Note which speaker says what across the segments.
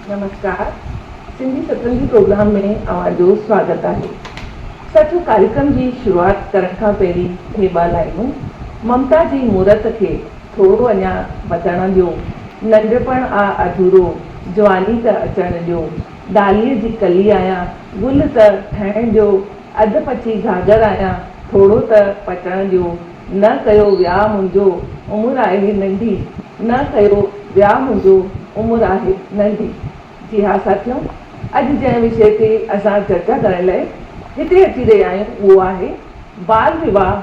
Speaker 1: نمسڪار Sindhi Satrangi program ۾ اوهان جو سواگت آهي سچو ڪاريڪرم جي شروعات ڪرڻ کان پهرين هي ٻه لائنون ممتا جي مورت کي ٿورو اڃا وڌڻ ڏيو ننڍپڻ آ اڌورو جواني ته اچڻ ڏيو ڊاليء جي ڪلي آهيان، گل ته ٺهڻ جو، اڌ پچي گاجر آهيان، ٿورو ته پٽڻ جو. نه ڪيو وياهه منهنجو، عمر آهي ننڍي، نه ڪيو وياهه منهنجو، عمر آهي ننڍي. جي ها ساٿيو، اڄ جنهن وشي تي اسان چرچا ڪرڻ لئه هتي اچي رهيا آهيون اهو آهي، بال وواهه.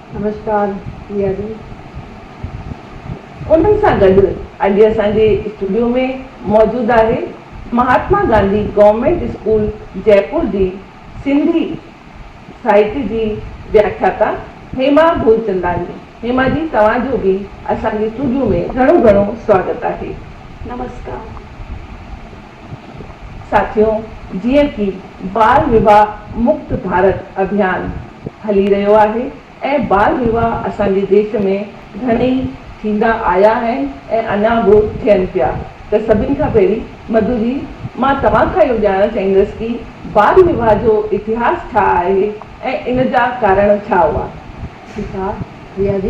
Speaker 1: نمشڪار
Speaker 2: ريا جي.
Speaker 1: انهن سان گڏ اڄ اسان جي اسٽوڊيو ۾ موجود آهي مهاتما گانڌي گورنمينٽ اسڪول جئپور جي سنڌي ساهتي جي وياکياتا هيما ڀولچنداڻي. هيما جي توهان جو به اسان جي اسٽوڊيو ۾ گهڻو گهڻو سواگت آهي. نمشڪار. ساٿيو جيئن ڪي بال وواھ مڪت ڀارت اڀيان ھلي رھيو آھي ۽ بال وواھ اسان جي ديش ۾ گھڻئي ٿيندا آيا آھن ۽ اڃا بھ ٿين پيا ته سڀن کان پھرين مڌو جي مان توھان کان اھو ڄاڻڻ چاھيندس ڪي بال وواھ جو اتھاس ڇا آھي ۽ ان جا ڪارڻ ڇا ھئا؟ ٺيڪ آ
Speaker 2: ريا جي.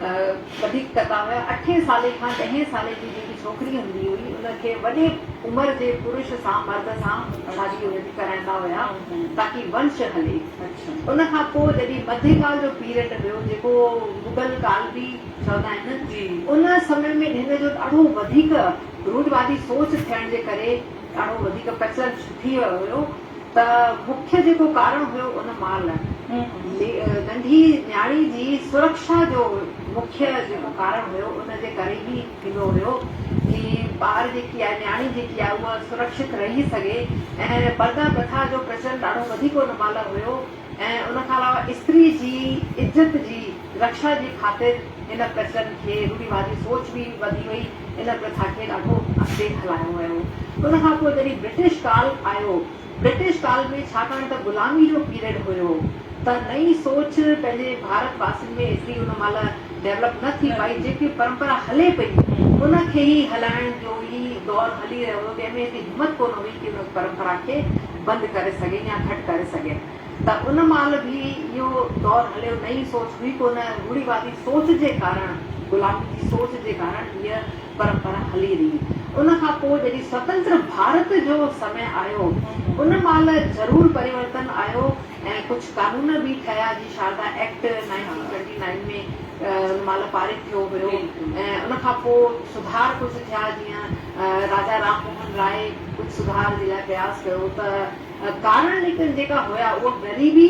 Speaker 2: وڌيڪ ڪندا هيا. اٺين سالي کان ڏهين سالي جي جيڪي ڇوڪري هوندي هئي ان کي وڏي عمر جي پرش سان، مرد سان، شادي ان جي ڪرائيندا هيا تاڪي ونش هلي. ان کان پوء جڏهن مڌي ڪال جو پيرڊ هيو جيڪو مغل ڪال به چوندا آهن ان سمي ۾ هن جو ڏاڍو وڌيڪ رودواڌي سوچ ٿيڻ جي ڪري ڏاڍو وڌيڪ پرچلت ٿي ويو هيو. ته مکيه جيڪو ڪارڻ هيو ان مال ننڍي نياڻي جي سرڪشا جو مکيه جيڪو ڪارڻ هيو ان جي ڪري ئي ٿيندو هيو جي ٻار جيڪي آهي نياڻي جيڪي آهي اها سرڪشت رهي سگهي ۽ پرده پرٿا جو پرچلن ڏاڍو وڌيڪ ان مال هيو ۽ ان کان علاوه استري جي عزت جي رڪشا جي خاطر ان پرچلن کي روڙيوادي سوچ به وڌي وئي ان پرٿا کي ڏاڍو اڳتي هلايو ويو. ان کان پوء جڏهن برٽش ڪال آيو، برٽش ڪال ۾ ڇاڪاڻ ته غلامي جو پيريڊ هيو ته نئين سوچ پنهنجي ڀارت واسين ۾ ايتري ان مهل ڊيولپ نه ٿي پائي، جيڪي پرمپرا هلي پئي ان کي ئي هلائڻ جو ئي دور هلي رهيو هيو، ڪنهن ۾ ايتري همت ڪونه هئي ڪي ان پرمپرا کي بند ڪري سگهي يا گهٽ ڪري سگهي. ته ان مهل به اهو دور هليو، نئين سوچ هئي ڪونه، روڙيوادي سوچ جي ڪارڻ، غلامي جي سوچ جي ڪارڻ هيء پرمپرا هلي رهي. ان کان پوء جڏهن سوتنتر ڀارت جو سمي آيو، ان مهل ضرور پريورتن آيو ۽ ڪجهه قانون به ٺهيا، جيئن Sharda act nineteen twenty nine ۾ ان مهل پارت ٿيو هيو ۽ ان کان پوء سڌار ڪجهه ٿيا، جيئن راجا رام موهن راء ڪجهه سڌار جي لاء پرياس ڪيو ته، ڪارڻ ليڪن جيڪا هيا اهو غريبي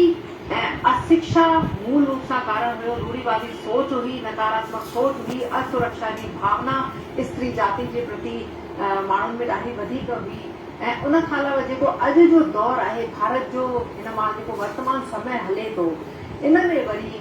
Speaker 2: ۽ اسکشا مول روپ سان ڪارڻ هيو، روڙهيوادي سوچ هئي، نڪاراتمڪ سوچ هئي، اسرکشا جي ڀاونا استري جاتي جي پرتي ماڻهن ۾ ڏاڍي وڌيڪ هئي ۽ ان کان علاوه جيڪو اڄ جو دور آهي ڀارت جو هن مهل جيڪو ورتمان سمي هلي ٿو ان ۾ وري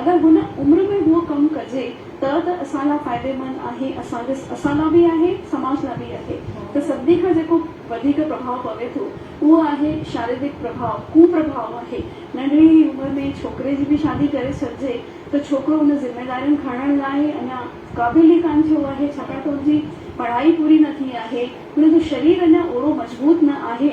Speaker 3: اگر هن عمر ۾ اهو ڪم ڪجي ته ته اسان لا فائديمند آهي اسان جي اسان لا به آهي سماج لا به آهي ته سڀني کان جيڪو وڌيڪ پرڀاء پوي ٿو اهو آهي شاريرڪ پرڀاء ڪو پرڀاء آهي ننڍڙي ئي عمر ۾ ڇوڪري جي به شادي ڪري ڇڏجي ته ڇوڪرو ان ذميدارين کڻڻ لاء اڃا قابل ئي ڪانه ٿيو آهي ڇاڪاڻ ته ان جي پڙهائي پوري نه ٿي آهي ان جو شرير اڃا اوڙو مضبوط نه آهي.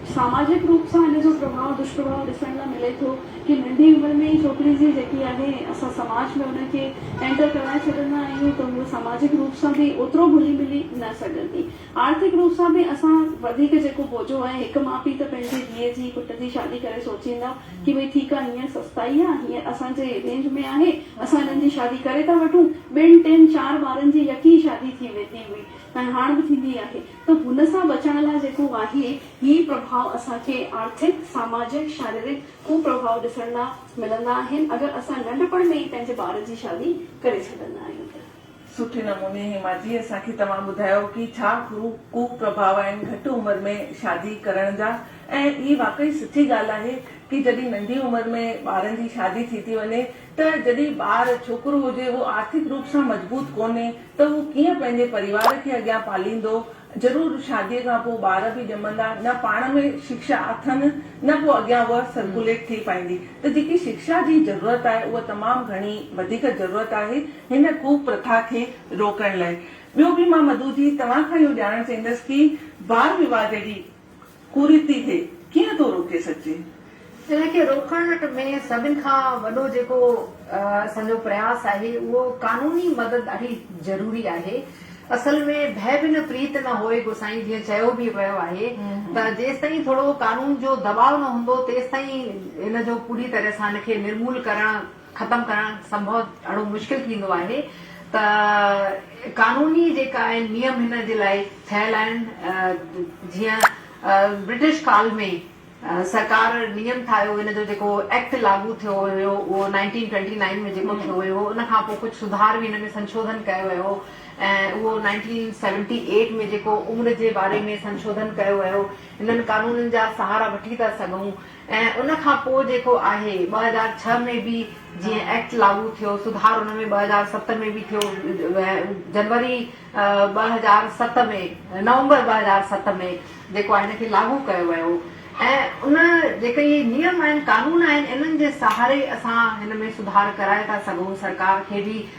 Speaker 3: ساماجڪ روپ سان ان جو پرڀاء دشپرڀاء ڏسڻ لا ملي ٿو ڪي ننڍي عمر ۾ ئي ڇوڪري جي جيڪي آهي اسان سماج ۾ ان کي اينٽر ڪرائي ڇڏندا آهيون ته هوء ساماجڪ روپ سان به اوترو گهلي ملي نه سگهندي آرٿڪ روپ سان به اسان وڌيڪ جيڪو بوجو آهي هڪ ماء پي ته پنهنجي ڌيء جي پٽ جي شادي ڪري سوچيندا ڪي ڀئي ٺيڪ آهي هينئر سستائي آهي هينئر اسان جي رينج ۾ آهي اسان هنن جي شادي ڪري ٿا وٺون ٻن ٽن چار ٻارن جي يڪي ئي شادي ٿي ويندي هئي ۽ هاڻ به ٿيندي آهي ته هن سان بچڻ لاء جيڪو آهي، هي پرڀاء اسان کي آرٿڪ، ساماجڪ، شاريرڪ ڪپرڀاء ڏسڻ لاء ملندا آهن، اگر اسان ننڍپڻ ۾ ئي پنهنجي ٻار جي شادي ڪري ڇڏندا آهيون ته. سٺي نموني
Speaker 1: هيما جي اسان کي توهان ٻڌايو ڪي ڇا هو ڪپرڀاء آهن گهٽ عمر ۾ شادي ڪرڻ جا ۽ هي واقعي سچي ڳالهه آهي ڪي جڏهن ننڍي عمر ۾ ٻارن جي شادي ٿي ٿي وڃي ته جڏهن ٻار، ڇوڪرو هجي، اهو آرٿڪ روپ سان مضبوط ڪونهي ته اهو ڪيئن پنهنجي پريوار کي اڳيان پاليندو. ضرور شاديء کان پوء ٻار به ڄمندا، نه پاڻ ۾ شڪشا اٿن نه پوء اڳيان اها سرڪوليٽ ٿي پائيندي ته جيڪي شڪشا جي ضرورت آهي اها تمام گهڻي وڌيڪ ضرورت آهي هن ڪوپرٿا کي روڪڻ لاء. ٻيو به مان مڌو جي توهان کان اهو ڄاڻڻ چاهيندس ڪي بال وواهه جهڙي ڪريتي کي ڪيئن ٿو روڪي سگهجي؟ ان کي
Speaker 2: روڪڻ ۾ سڀن کان وڏو جيڪو اسان جو پرياس آهي اهو قانوني مدد ڏاڍي ضروري آهي. اصل ۾ ڀئي بنهه پريت نه هوئي گوسائين جيئن چيو به ويو آهي ته جيستائين ٿورو قانون جو دٻاء نه هوندو تيستائين ان جو پوري طرح سان ان کي نرمول ڪرڻ ختم ڪرڻ سنڀو اھڙو مشڪل ٿيندو آھي ته قانوني جيڪا آھن نيم ھن جي لاء ٺھيل آھن جيئن برٽش ڪال ۾ سرڪار نيم ٺاھيو ان جو جيڪو ايڪٽ لاڳو ٿيو ھيو اھو نائنٽين ٽوئنٽي نائين ۾ جيڪو ٿيو ھيو ھو ان کان پوء ڪجھ سڌار به ان ۾ سنشوڌن ڪيو ويو ۽ اھو نائنٽين سيونٽي ايٽ ۾ جيڪو عمر جي باري ۾ سنشوڌن ڪيو ويو انھن قانونن جا سھارا وٺي ٿا سگھون ۽ ان کان پوء جيڪو آهي ٻه هزار ڇهه ۾ به جيئن ايڪٽ لاڳو ٿيو سڌار ان ۾ ٻه هزار ست ۾ به ٿيو جنوري ٻه هزار ست ۾ نومبر ٻه هزار ست ۾ جيڪو آهي ان کي لاڳو ڪيو ويو ۽ ان جيڪي اهي نيم آهن قانون آهن انهن جي سهاري اسان هن ۾ سڌار ڪرائي ٿا سگهون سرڪار کي به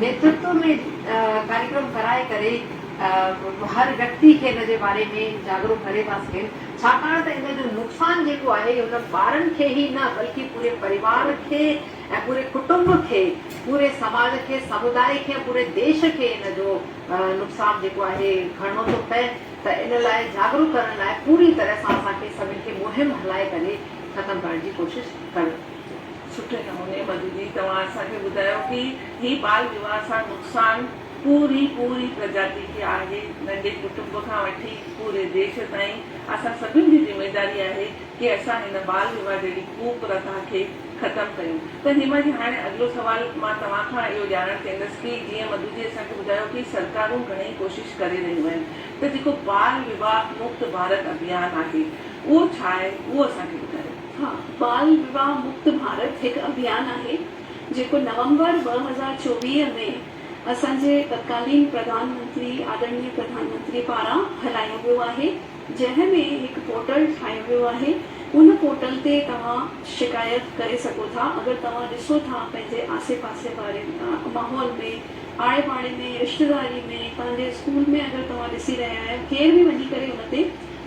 Speaker 2: نيترتو ۾ ڪاريڪرم ڪرائي ڪري هر ويڪتي کي ان جي باري ۾ جاڳرو ڪري ٿا سگهن ڇاڪاڻ ته ان جو نقصان جيڪو آهي اهو هن ٻارن کي ئي نه بلڪه پوري پريوار کي ۽ پوري ڪٽنب کي پوري سماج کي سموداء کي ۽ پوري ديش کي ان جو نقصان جيڪو آهي کڻڻو ٿو پئي ته ان لاء جاڳرو ڪرڻ لاء پوري طرح سان اسان کي سڀن کي مهم هلائي ڪري ختم ڪرڻ جي ڪوشش ڪرڻ سٺي
Speaker 1: نموني مددي توهان اسان کي ٻڌايو ڪي هي ٻال ويواه سان نقصان پوري پوري پرجاتي کي آهي ننڍي ڪٽنب کان وٺي پوري ديش تائين اسان سڀن جي ذميداري آهي ڪي اسان هن ٻال ويواه جهڙي ڪوپ رٿا کي ختم ڪيون ته هيما جي هاڻي اڳلو سوال مان توهان کان اهو ڄاڻڻ چهندس ڪي جيئن مدو جي اسان کي ٻڌايو ڪي سرڪارون گهڻي ڪوشش ڪري رهيون آهن ته جيڪو ٻال ويواه مڪت ڀارت اڀيان آهي اهو ڇا آهي اهو اسان
Speaker 3: کي ٻڌايو. ها،
Speaker 1: ٻال
Speaker 3: ويواه
Speaker 1: مڪت
Speaker 3: ڀارت هڪ
Speaker 1: اڀيان
Speaker 3: آهي، جيڪو نومبر ٻه هزار چوويهه ۾ اسان جي تتڪالين پرڌان منتري آڏرڻيه پرڌان منتري پاران هلايو ويو آهي، جنهن ۾ هڪ پورٽل ٺاهيو ويو آهي، ان پورٽل تي توهان شڪايت ڪري سگهو ٿا، اگر توهان ڏسو ٿا پنهنجي آسي پاسي واري ماحول ۾ آڙي پاڙي ۾ رشتيداري ۾ پنهنجي اسڪول ۾ اگر توهان ڏسي رهيا آهيو ڪير به وڃي ڪري ان تي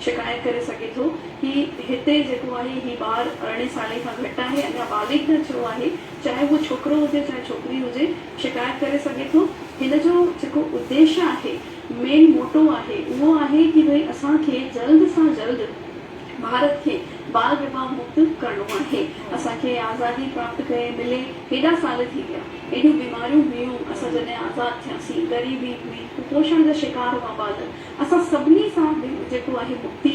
Speaker 3: شڪايت ڪري سگهي ٿو. هي هتي جيڪو آهي هي ٻار ارڙهين سالين کان گهٽ آهي اڃا بالغ نه ٿيو آهي چاهي هو ڇوڪرو هجي چاهي ڇوڪري هجي شڪايت ڪري سگهي ٿو هن جو جيڪو اديش آهي مين موٽو آهي اهو آهي ڪي ڀئي اسان کي جلد سان جلد ڀارت کي بال وواهه مڪت ڪرڻو آهي اسان کي آزادي پراپت ڪئي ملي هيڏا سال ٿي ويا ايڏيون بيماريون هيون اسان جڏهن آزاد ٿياسين غريبي هئي ڪپوشڻ جا شڪار هئا ٻال اسان سڀني سان به جيڪو آهي مڪتي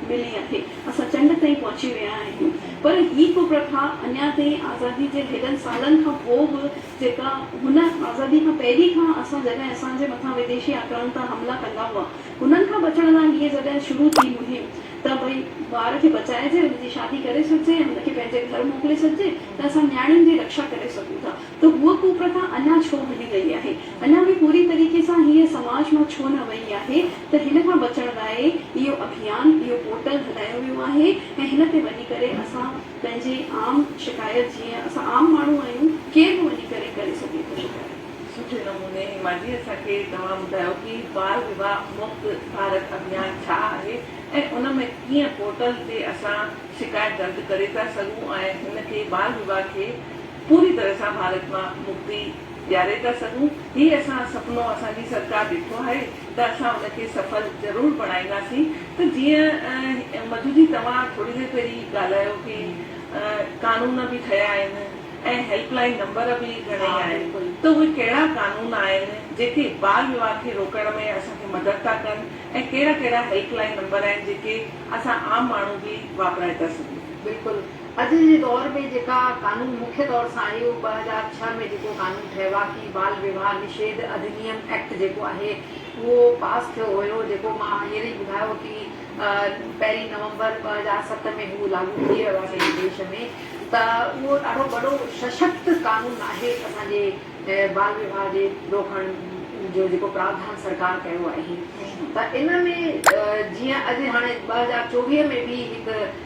Speaker 3: ملي آهي. اسان چنڊ تائين پهچي ويا آهيون. پر هي ڪپرٿا اڃا تائين آزادي جي هيڏن سالن کان پوء به جيڪا هن آزادي کان پهرين کان اسان جڏهن اسان جي مٿان وديشي آڪرمڻ تان حملا ڪندا هئا انهن کان بچڻ لاء هيء جڏهن شروع ٿي مهم ته ڀئي ٻار کي بچائجي ان جي شادي ڪري ڇڏجي ۽ ان کي پنهنجي گهر موڪلي ڇڏجي ته اسان نياڻين جي رڪشا ڪري سگهون ٿا. ته هوء ڪوپرٿا اڃا ڇو هلي رهي آهي، اڃا به پوري طريقي سان هيء سماج مان ڇو نه وئي آهي ته هن کان بچڻ لاء اهو اڀيان، اهو پورٽل هلايو ويو آهي ۽ هن تي وڃي ڪري اسان پنهنجي عام شڪايت جيئن اسان عام ماڻهو آهيون ڪير به وڃي ڪري ڪري سگهي ٿو شڪايت. سٺي نموني
Speaker 1: ماجي اسان کي توهان ٻڌايو ڪي بال وواهه مڪت ڀارت اڀيان ڇا آهي ۽ ان ۾ ڪيئن پورٽل تي اسان شڪايت درج ڪري ٿا سگهون ۽ هن کي بال وواهه کي پوري طرح سان ڀارت مان مڪتي ڏياري ٿا سگهون. هي اسان سپنو اسان جي سرڪار ڏٺو آهي ته اسان ان کي سڦل ضرور بڻائينداسين ته جيئن مڌو جي توهان ٿوري دير پهرين ڳالهايو ڪي قانون به ٺهيا آهن ۽ هيلپ لائين نمبر به گهڻيئي آهن ته اهي ڪهڙا قانون آهن جيڪي ٻال ويواه کي روڪڻ ۾ اسان کي مدد ٿا ڪن ۽ ڪهڙا ڪهڙا هيلپ لائين نمبر آهن جيڪي اسان عام ماڻهو به واپرائي ٿا سگهون. بلڪل اڄ
Speaker 2: جي دور ۾ جيڪا قانون مکيه طور سان آهي اهو ٻه هزار ڇهه ۾ جيڪو قانون ٺهواڪي بال وواهه نشيڌ اڌنيم ايڪٽ جيڪو آهي اهو پاس ٿيو هيو جيڪو مان هينئر ئي ٻڌايو ڪي پهرين نومبر ٻه هزار ست ۾ هو لاڳو ٿي ويو آهي سڄي ديش ۾ ته اهو ڏاڍو وڏو سشڪت قانون آهي اسان جي بال وواهه جي روڪڻ جو جيڪو پراوڌان سرڪار ڪيو آهي ته ان ۾ جيئن اڄ هاڻي ٻه هزار چوويهه ۾ به هڪ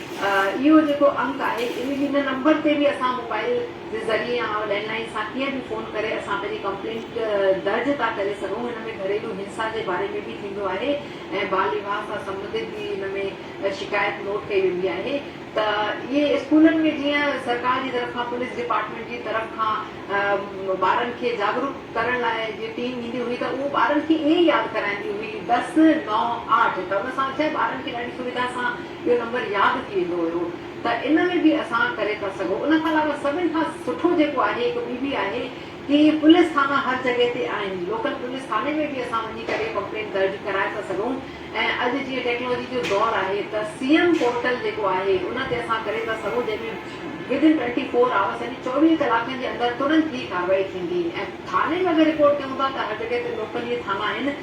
Speaker 2: اهو جيڪو انڪ آهي ان هن نمبر تي به اسان موبائل جي ذريعي يا لينڊ لائين سان ڪيئن به فون ڪري اسان پنهنجي ڪمپلينٽ درج ٿا ڪري سگهون ان ۾ گهريلو هنسا جي باري ۾ به ٿيندو آهي ۽ ٻال ويواه سان سمبنڌت به ان ۾ شڪايت نوٽ ڪئي ويندي آهي ته اهي اسڪولن ۾ جيئن سرڪار جي طرف کان پوليس ڊپارٽمينٽ جي طرف کان ٻارن کي جاڳروڪ ڪرڻ لاء جي ٽيم ايندي هئي ته اهو ٻارن کي ائين ياد ڪرائيندي هئي دس نو آٺ ته ان سان ڇا ٻارن کي ڏاڍي سويڌا سان اهو نمبر ياد ٿي ويندو هيو ته ان ۾ به اسان ڪري ٿا سگهون ان کان علاوه سڀن کان سٺو جيڪو آهي هڪ ٻي به آهي ڪي پوليس ٿانا هر جڳهه تي آهن لوڪل پوليس ٿاني ۾ به اسان وڃي ڪري ڪمپلين درج ڪرائي ٿا سگهون ۽ اڄ جيئن ٽيڪنالاجي جو دور آهي ته سي ايم پورٽل جيڪو آهي ان تي اسان ڪري ٿا سگهون جنهن ۾ ودن ٽوئنٽي فور آورس يعني چوويهه ڪلاڪن جي اندر ترنت هي ڪارروائي ٿيندي ۽ ٿاني ۾ اگر رپورٽ ڪيون ٿا ته هر جڳهه تي لوڪل اهي ٿانا آهن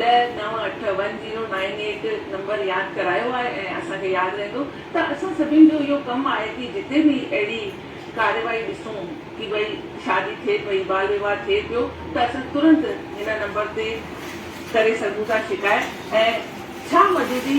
Speaker 1: ڏهه نو اٺ one zero nine eight number ياد ڪرايو آهي ۽ اسان کي ياد رهندو ته اسان سڀين جو اهو ڪم آهي ڪي جتي به اهڙي ڪارروائي ڏسون ڪي ڀئي شادي ٿئي پئي بال وواهه ٿئي پيو ته اسان ترنت هن نمبر تي ڪري سگهون ٿا شڪايت ۽ ڇا مجوزي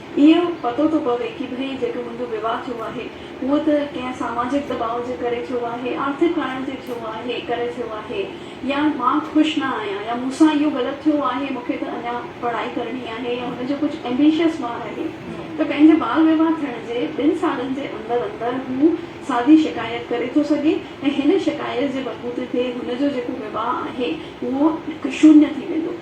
Speaker 3: اهو پتو ٿو پوي ڪي ڀئي جيڪو منهنجو ويواهه ٿيو آهي اهو ته ڪنهن ساماجڪ دٻاء جي ڪري ٿيو آهي، آرٿڪ ڪارڻ تي ٿيو آهي، ڪري ٿيو آهي يا مان خوش نه آهيان يا مون سان اهو غلط ٿيو آهي، مون کي ته اڃا پڙهائي ڪرڻي آهي يا هن جو ڪجهه ايمبيشس ٻار آهي ته پنهنجي ٻال ويواهه ٿيڻ جي ٻن سالن جي اندر اندر هو سادي شڪايت ڪري ٿو سگهي ۽ هن شڪايت جي بلبوتي تي هن جو جيڪو ويواهه آهي اهو شونيه ٿي ويندو.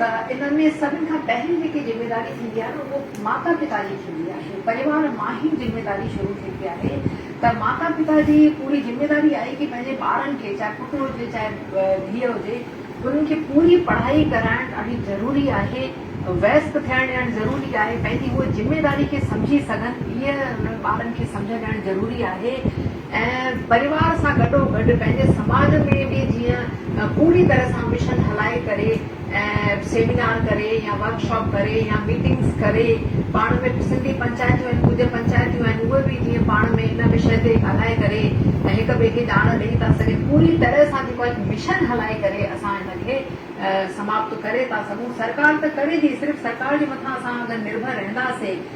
Speaker 2: ته ان ۾ سڀن کان پهرين جيڪي ذميواري ٿيندي آهي اهو ماتا پتا جي ٿيندي آهي پريوار مان ئي ذميواري شروع ٿيندي آهي ته ماتا پتا جي پوري ذميواري آهي ڪي پنهنجي ٻارن کي چاهي پٽ هجي چاهي ڌيء هجي انهن کي پوري پڙهائي ڪرائڻ ڏاڍي ضروري آهي ويسڪ ٿيڻ ڏيڻ ضروري آهي پنهنجي هئ ذميواري کي سمجهي سگهن هئ انهن ٻارن کي سمجهه ڏيڻ ضروري آهي. ۽ پريوار سان گڏو گڏ پنهنجي سماج ۾ به جيئن پوري طرح سان مشن هلائي ڪري ۽ سيمينار ڪري يا ورڪ شاپ ڪري يا ميٽنگس ڪري پاڻ ۾ سنڌي پنچائتون آهن ڪجهه پنچائتون آهن اهي به جيئن پاڻ ۾ ان وشي تي ڳالهائي ڪري ۽ هڪ ٻئي کي ڄاڻ ڏئي ٿا سگهن پوري طرح سان جيڪو هڪ مشن هلائي ڪري اسان ان کي سماپت ڪري ٿا سگهون سرڪار ته ڪري ٿي صرف سرڪار جي مٿان اسان اگر نرڀر رهنداسين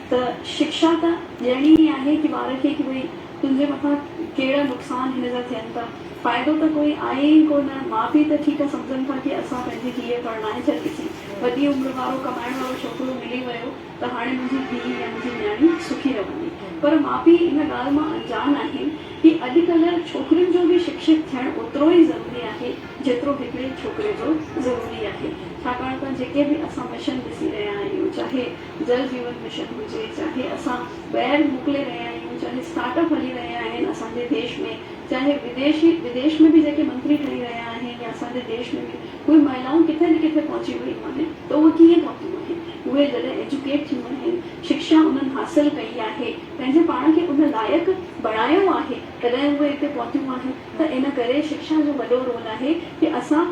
Speaker 3: ته شڪشا ته ڏيڻي ئي آهي ڪي ٻار کي ڪي ڀئي تنهنجي مٿان ڪهڙا نقصان هن جا ٿين ٿا فائدو ته ڪوئي آهي ئي ڪو نه ماء پيء ته ٺيڪ آهي سمجهن ٿا ڪي اسان پنهنجي ڌيء پرڻائي ڇڏيسين وڏي عمر وارو ڪمائڻ وارو ڇوڪرو ملي ويو ته هاڻي منهنجي ڌيء يا منهنجي نياڻي سکي رهندي پر ماء پيء ان ڳالهه مان انجان آهن ڪي اڄ ڪلهه ڇوڪرين جو به شڪشت ٿيڻ اوترو ئي ضروري آهي جيترو هڪڙي ڇوڪري جو ضروري آهي ڇاڪاڻ ته جيڪي به اسان مشن ڏسي رهيا آهيون چاهي جل جيون مشن هجي چاهي اسان ٻاهر موڪلي رهيا آهيون چاهي اسٽارٽ اپ هلي رهيا آهن اسان جي ديش ۾ چاهي وديشي وديش ۾ به جيڪي منتري ٺهي رهيا آهن يا اسان جي ديش ۾ به اهي مهلائون ڪٿي نه ڪٿي پهچي ويون آهن ته اهي ڪيئن پهتيون آهن اهي جڏهن ايجوڪيٽ ٿيون آهن شڪشا انهن حاصل ڪئي آهي پنهنجي پاڻ کي ان لائق بڻايو آهي تڏهن اهي اتي پهتيون آهن ته ان ڪري شڪشا جو وڏو رول آهي ڪي اسان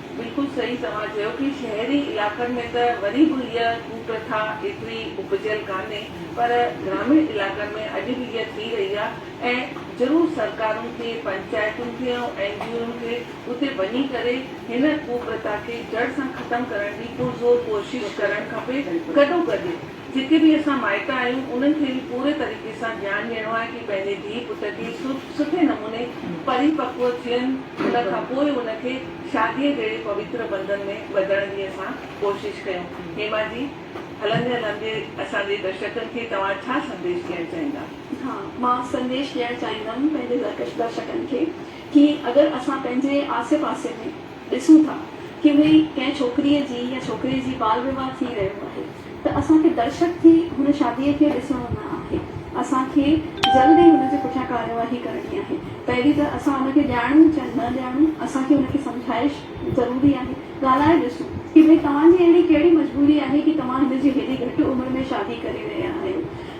Speaker 2: بلڪل صحيح
Speaker 1: توهان چيو ڪي شهري علائقن ۾ ته وري به هيء ڪوپرٿا ايتري اپجيل ڪانهي پر گراميڻ علائقن ۾ اڄ به هيء ٿي رهي آ ۽ ضرور سرڪارن کي پنچائتن کي ۽ اين جي اوئن کي اتي وڃي ڪري هن ڪوپرٿا کي جڙ سان ختم ڪرڻ جي پرزور ڪوشش ڪرڻ کپي گڏوگڏ جتي به اسان مائٽ آهيون انهن کي به پوري طريقي سان ڌيان ڏيڻو آهي ڪي پنهنجي ڌي پٽ کي سٺي نموني پري پڪو ٿين ان کان پوء ان کي شاديء جهڙي پويتر بنڌن ۾ ٻڌڻ جي اسان ڪوشش ڪيون. هيما جي هلندي هلندي اسان جي درشڪن کي توهان ڇا سنديش ڏيڻ چاهيندا؟ ها مان
Speaker 3: سنديش ڏيڻ چاهيندم پنهنجي درڪش درشڪن کي ڪي اگر اسان پنهنجي آسي پاسي ۾ ڏسون ٿا ڪي اهي ئي ڪنهن ڇوڪريء جي يا ڇوڪري جي بال ويواه ٿي رهيو آهي ته اسان کي درشڪ ٿي هن شاديء کي ڏسڻو نه آهي اسان کي جلد ئي هن جي پٺيان ڪاررواهي ڪرڻي آهي پهرين ته اسان ان کي ڄاڻون چا نه ڄاڻون اسان کي ان کي سمجهائش ضروري آهي ڳالهائي ڏسون ڪي ڀئي توهان جي اهڙي ڪهڙي مجبوري آهي ڪي توهان هن جي هيڏي گهٽ عمر ۾ شادي ڪري رهيا آهيو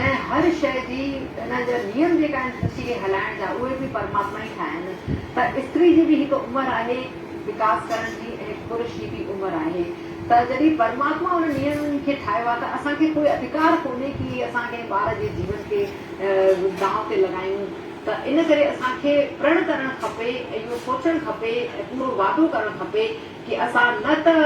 Speaker 2: ۽ هر شيء جي ان جا نيم جيڪا آهن سچي کي هلائڻ جا اهي به پرماتما ئي ٺاهيا آهن ته استري جي به هڪ عمر آهي وڪاس ڪرڻ جي ۽ هڪ پرش جي به عمر آهي ته جڏهن پرماتما ان نيم کي ٺاهيو آهي ته اسان کي ڪوئي اڌڪار ڪونهي ڪي اسان ڪنهن ٻار جي جيون کي دانهن تي لڳايون ته ان ڪري اسان کي پرڻ ڪرڻ کپي ۽ اهو سوچڻ کپي ۽ پورو وعدو ڪرڻ کپي ڪي اسان نه ته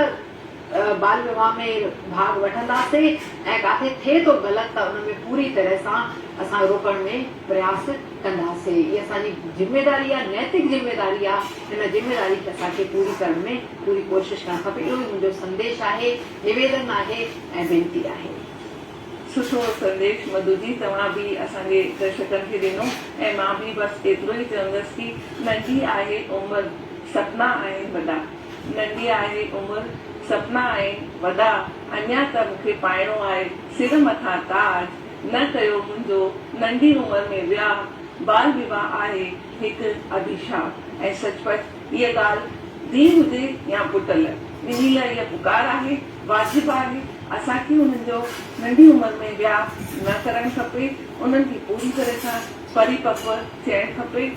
Speaker 2: بال ويواه ۾ ڀاڳ وٺنداسين ۽ ڪاٿي ٿئي ٿو غلط ته ان ۾ پوري طرح سان اسان روڪڻ ۾ پرياس ڪنداسين هي اسان جي ذميواري آهي نيتڪ ذميواري آهي ان ذميواري کي اسان کي پوري ڪرڻ ۾ پوري ڪوشش ڪرڻ کپي اهو ئي منهنجو سنديش آهي نويدن آهي ۽ وينتي آهي. سٺو
Speaker 1: سنديش مڌو جي توهان به اسان جي درشڪن کي ڏنو ۽ مان به بس ايترو ئي چوندس ڪي ننڍي آهي عمر سپنا آهن وڏا. ننڍي آهي عمر سپنا آهن وڏا اڃا ته مون کي پائڻو آهي سر مٿان تاج نه ڪيو منهنجو ننڍي عمر ۾ وياهه بال وواهه آهي هڪ اڀيشاپ ۽ سچ پچ هيء ڳالهه ڌيء هجي يا پٽ لئه ٻنهي لئه هيء پڪار آهي واجب آهي اسان کي انهن جو ننڍي عمر ۾ وياهه نه ڪرڻ کپي انهن کي پوري طرح سان پريپڪو ٿيڻ کپي.